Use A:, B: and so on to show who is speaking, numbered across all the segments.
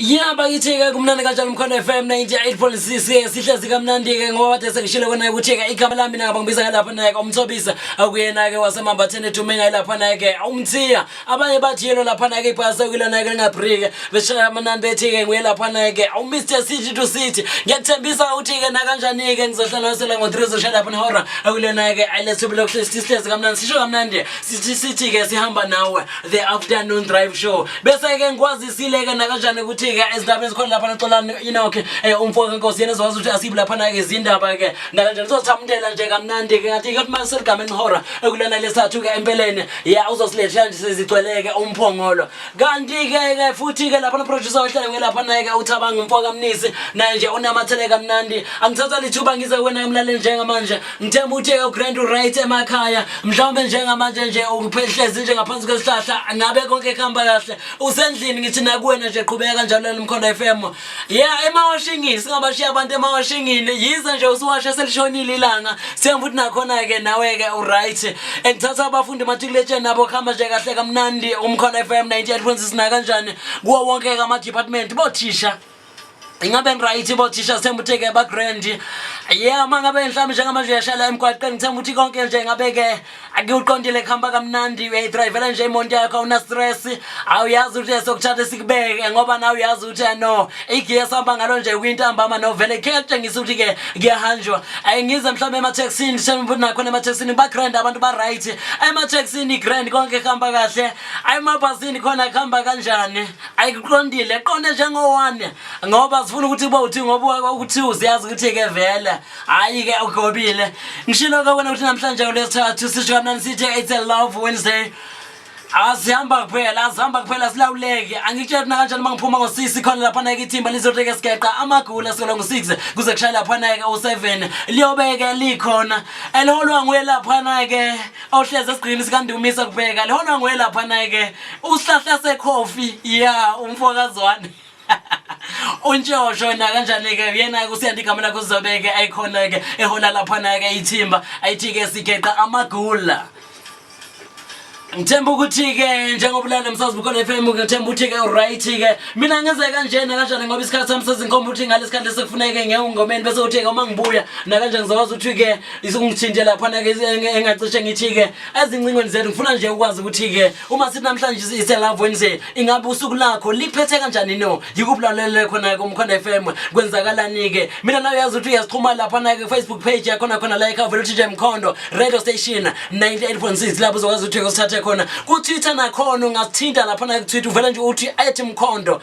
A: ya bakithi-ke kumnandi kanjalo mkhona f m 98.6 sihlezi kamnandi-ke ngoba bade sengishile kona-ke ukuthi-ke igama lami nake bangibiza ngalapha naye-ke umthobisa akuyena-ke wasemambatheni edume ngaye lapha naye-ke umthiya abanye bathi yelo lapha naye-ke ibhasi okuyilo naye-ke lingabrike beshaya amanani bethi-ke nguye lapha naye-ke umr city to city ngiyakuthembisa ukuthi-ke nakanjani-ke ngizohlanganisela ngo-three zosha lapha nehora akuyilo naye-ke ayilethubi lokuhlezi sihlezi kamnandi sisho kamnandi sithi-ke sihamba nawe the afternoon drive show bese-ke ngikwazisile-ke nakanjani ukuthi-ke ezindaba ezikhona lapha naxolani inoke um eh, umfo kankosi yena ezokwazi ukuthi asibi laphana-ke izindaba-ke nakanjani uzothamundela nje kamnandi-ke ngathi-ke kuthi mase seligameni ihora ekulana lesathu-ke empeleni ya uzosilethela nje sezigcweleke umphongolo kanti-ke-ke futhi-ke lapha noproducer ohleleke laphana-ke uthabanga umfo kamnisi naye nje unamathele kamnandi angithatha lithuba ngize kuwena-ke mlaleli njengamanje ngithemba ukuthi eyoGrand uright emakhaya mhlawumbe njengamanje nje ukuphehlezi nje ngaphansi kwesihlahla ngabe konke kuhamba kahle usendlini ngithi nakuwena nje qhubeka kanjalo elimkhonda f m ya emawashingini singabashiya abantu emawashingini yize nje usiwashe selishonile ilanga siyemba ukuthi nakhona-ke nawe-ke uright engithatha abafundi matriculation nabo kuhamba nje kahle kamnandi umkhona f m 98 kwenzisina kanjani kuwo wonke-ke ama-department bothisha ingabe ngiright bo thisha sithemba ukuthi ke bagrand ye uma ngabe mhlawumbe njengamanje uyashayela emgwaqeni ngithemba ukuthi konke nje ngabe-ke akuwuqondile kuhamba kamnandi uyayidrayivela nje imonto yakho awunastress awuyazi ukuthi sokuthatha sikubeke ngoba nawe uyazi ukuthi eh, no igiye sihamba ngalo nje kuyintambama novele khe kutshengisa ukuthi-ke kuyahanjwa um ngize mhlawumbe emathekisini ngithemba ukuthi nakhona emathekisini bagrand abantu ba-right emathekisini grand konke kuhamba kahle ayemabhasini khona kuhamba kanjani ayiqondile qonde njengowane ngoba sifuna ukuthi uba uthi ngoba ukuthi uziyazi ukuthi ke vele hayi ke ugobile ngishilo ke wena ukuthi namhlanje kulesithathu sisho kamnani sithi it's a love wednesday asihamba kuphela asihamba kuphela silawuleke angikutshela mina kanjani uma ngiphuma ngosisi khona laphana ke ithimba lizoteke sigeqa amagula sikola ngo-six kuze kushaya laphana ke u-seven liyobeke likhona eliholwa nguye laphana ke awuhlezi esigqini sikandumisa kubheka lehona nguye lapha naye-ke usihlahla sekhofi ya umfokazwane untshosho nakanjani-ke uyena-ke usiyanda igama lakho uzobeke ayikhona-ke ehola laphana-ke ithimba ayithi-ke sigeqa amagula ngithemba ukuthi-ke njengoba ulale msazi bukhona f m ngithemba ukuthi-ke uright-ke mina ngenze kanje nakanjani ngoba isikhathi sami sezinkomba ukuthi ngale sikhathi lesekufuneke ngengomeni bese uthi-ke uma ngibuya nakanje ngizokwazi ukuthi-ke isingithinte laphana ke engacishe ngithi-ke ezincingweni zethu ngifuna nje ukwazi ukuthi-ke uma sithi namhlanje iselove wednesday ingabe usuku lakho liphethe kanjani no yikuphi lalelele khona-ke umkhona f m kwenzakalani-ke mina nayo yazi ukuthi uyasixhuma laphana-ke facebook page yakhona khona la ekhava lutj mkhondo radio station 98 point 6 lapho uzokwazi ukuthi-ke usithathe khona kutwitter nakhona ungasithinta laphana-ke kutwitter uvele nje uthi ethi mkhondo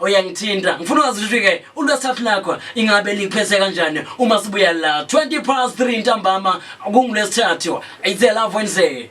A: uyangithinta ngifuna uyazi ukuthi-ke ulwesithathu lakho ingabe liphese kanjani uma sibuya la 20 past 3 ntambama kungulwesithathu it's a love wednesday